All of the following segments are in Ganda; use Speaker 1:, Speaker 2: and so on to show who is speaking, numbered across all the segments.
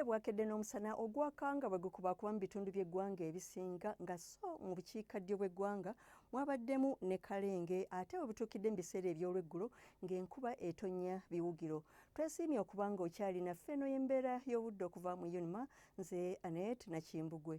Speaker 1: Obudde bwakedde n'omusana ogwaka nga bwe gukubaakuba mu bitundu by'eggwanga ebisinga nga so mu bukiikaddyo bw'eggwanga mwabaddemu ne kalenge ate bwe butuukidde mu biseera eby'olweggulo ng'enkuba etonnya biwugiro. Twesiimye okuba nga okyali naffe eno y'embeera y'obudde okuva mu UNMA nze Anet Nakimbugwe.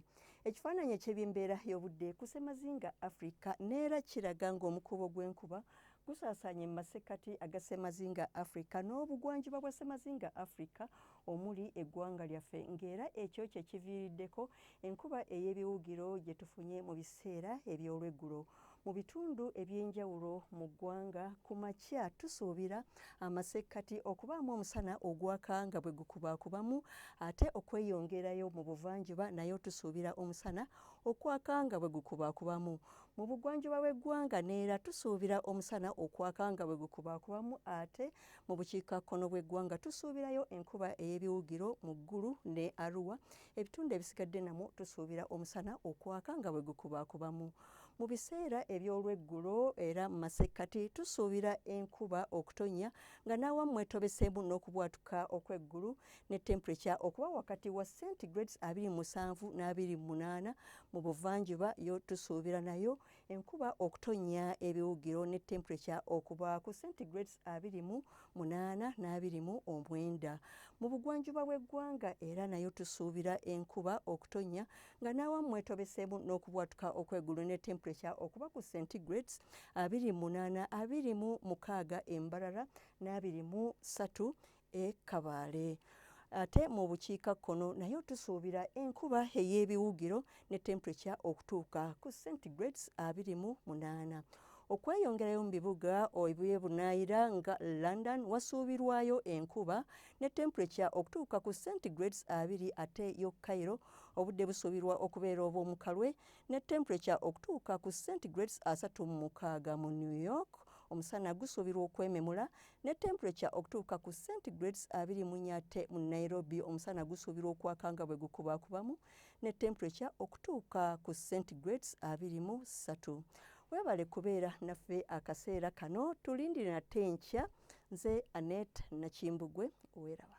Speaker 1: Ekifaananyi eky'ebyembeera y'obudde ku ssemazinga Afrika neera kiraga ng'omukuubo gw'enkuba gusaasaanye mu masekkati aga ssemazinga afrika n'obugwanjuba bwa ssemazinga afrika omuli eggwanga lyaffe ng'era ekyo kye kiviiriddeko enkuba ey'ebiwugiro gye tufunye mu biseera eby'olweggulo mu bitundu eby'enjawulo mu ggwanga. Ku makya tusuubira amasekkati okubaamu omusana ogwaka nga bwe gukubaakubamu ate okweyongerayo mu buvanjuba nayo tusuubira omusana okwaka nga bwe gukubaakubamu mu bugwanjuba bw'eggwanga neera tusuubira omusana okwaka nga bwe gukubaakubamu ate Mu bukiikakkono bw'eggwanga tusuubirayo enkuba ey'ebiwugiro mu Gulu ne Arua. Ebitundu ebisigadde namwo tusuubira omusana okwaka nga bwe gukubaakubamu. Mu biseera eby'olweggulo era mu masekkati tusuubira enkuba okutonnya nga n'awamu mwetobeseemu n'okubwatuka okw'eggulu ne tempurekya okuba wakati wa centigrades abiri mu musanvu n'abiri mu munaana. Mu buvanjuba yo tusuubira nayo enkuba okutonnya ebiwugiro ne temperature okuba ku centigrades abiri mu munaana n'abiri mu omwenda mu bugwanjuba bw'eggwanga era nayo tusuubira enkuba okutonnya nga n'awamu mwetobeseemu n'okubwatuka okwegulu ne temperature okuba ku centigrades abiri munaana abiri mu mukaaga embarara n'abiri mu ssatu e Kabale. Ate mu bukiika kkono nayo tusuubira enkuba ey'ebiwugiro ne temperature okutuuka ku centigrades abiri mu munaana. Okweyongerayo mu bibuga ebyebunaayira nga London wasuubirwayo enkuba ne temperature okutuuka ku centigrades abiri ate yo Cairo obudde busuubirwa okubeera obw'omukalwe ne temperature okutuuka ku centigrades asatu mu mukaaga mu New York omusana gusuubirwa okwememula ne temperature okutuuka ku centigrades abiri mu nnya ate mu Nairobi omusana gusuubirwa okwaka nga bwe gukubaakubamu ne temperature okutuuka ku centigrades abiri mu ssatu weebale kubeera naffe akaseera kano tulindire nate enkya nze Annette Nakimbugwe weeraba